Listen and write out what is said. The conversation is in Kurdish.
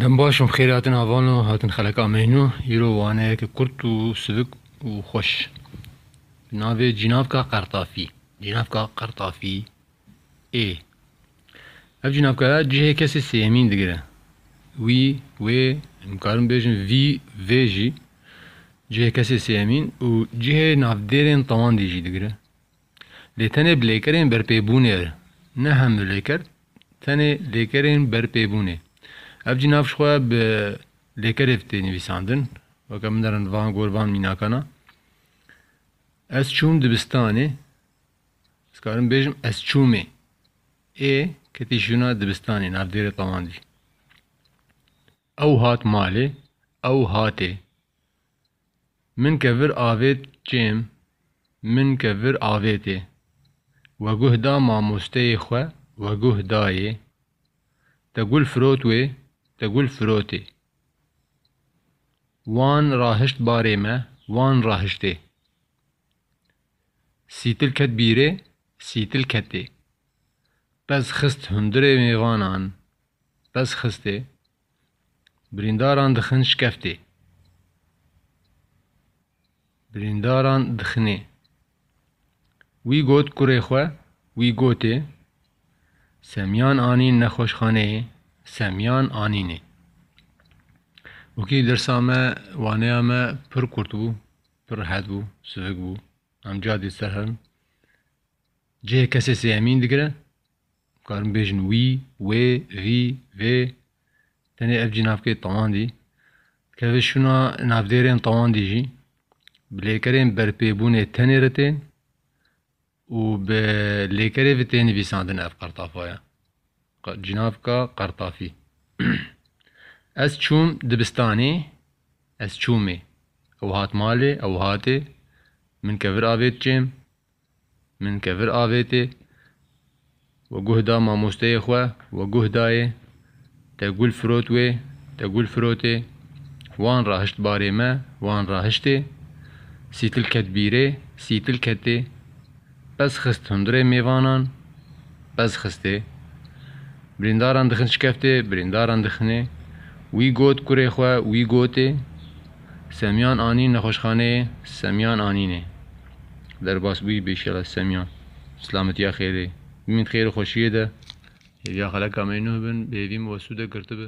Dem baş im xêrê hatin avano hatin xeleka meyno îro waneyeke kurt û sivik û xweş bi navê Cînavka Qertafî. Cînavka Qertafî ê ev cînavkaya cihê kesê sêyemîn digire. Wî, wê, dikarim bêjim vî, vê jî cihê kesê sêyemîn û cihê navdêrên tewandî jî digire. Lê tenê bi lêkerên berpêbûnê re, ne hemû lêker, tenê lêkerên berpêbûnê. Ev jî nav ji xwe bi lêkerê ve tê nivîsandin. Weke min derin van gor van mînakan a. Ez çûm dibistanê, ez karim bêjim ez çûmê. Ê ketî şûna dibistanê navdêrê tewandî. Ew hat malê, ew hatê. Min ke vir avêt kêm, min ke vir avêtê. We guh da mamosteyê xwe, we guh dayê. Te gul firot wê, te gul firotê. Wan rahişt barê me, wan rahiştê. Sîtil ket bîrê, sîtil ketê. Pez xist hundirê mêvanan, Pez xistê, birîndaran dixin şkeftê. Birîndaran dixinê. Wî got kurê xwe, wî gotê, Semyan anîn nexweşxaneyê, Semyan anînê. Wekî dersa me, waneya me pir kurt bû, pir rehet bû, sivik bû. Em carê dî ser herin. Cihê kesê sêyemîn digire. Karin bêjin wî, wê, vî, vê. Tenê ev cînavkê tawandî dikeve şûna navdêrên tawandî jî bi lêkerên berpêbûnê tenê re tên û bi lêkerê ve tê nivîsandin ev qertafa ye. Cînavka qertafî. Ez çûm dibistanê, ez çûmê. Ew hat malê, ew hatê. Min kevir avêt cêm. Min kevir avêtê we guh da mamosteyê xwe we guh dayê te gul firot wê te gul firotê wan rahişt barê me wan rahiştê sîtil ket bîrê sîtil ketê pez xist hundirê mêvanan pez xistê birîndaran dixin şikeftê birîndaran dixinê wî got kurê xwe wî gotê Semîyan anîn nexweşxaneyê Semîyan anînê. Derbas bûyî bêşela Semîyan. Silametiya xêrê. Bimîn xêr û xweşiyê de. Hêviya xeleka me nuh bin, bi hêvî min we sûde girtibi.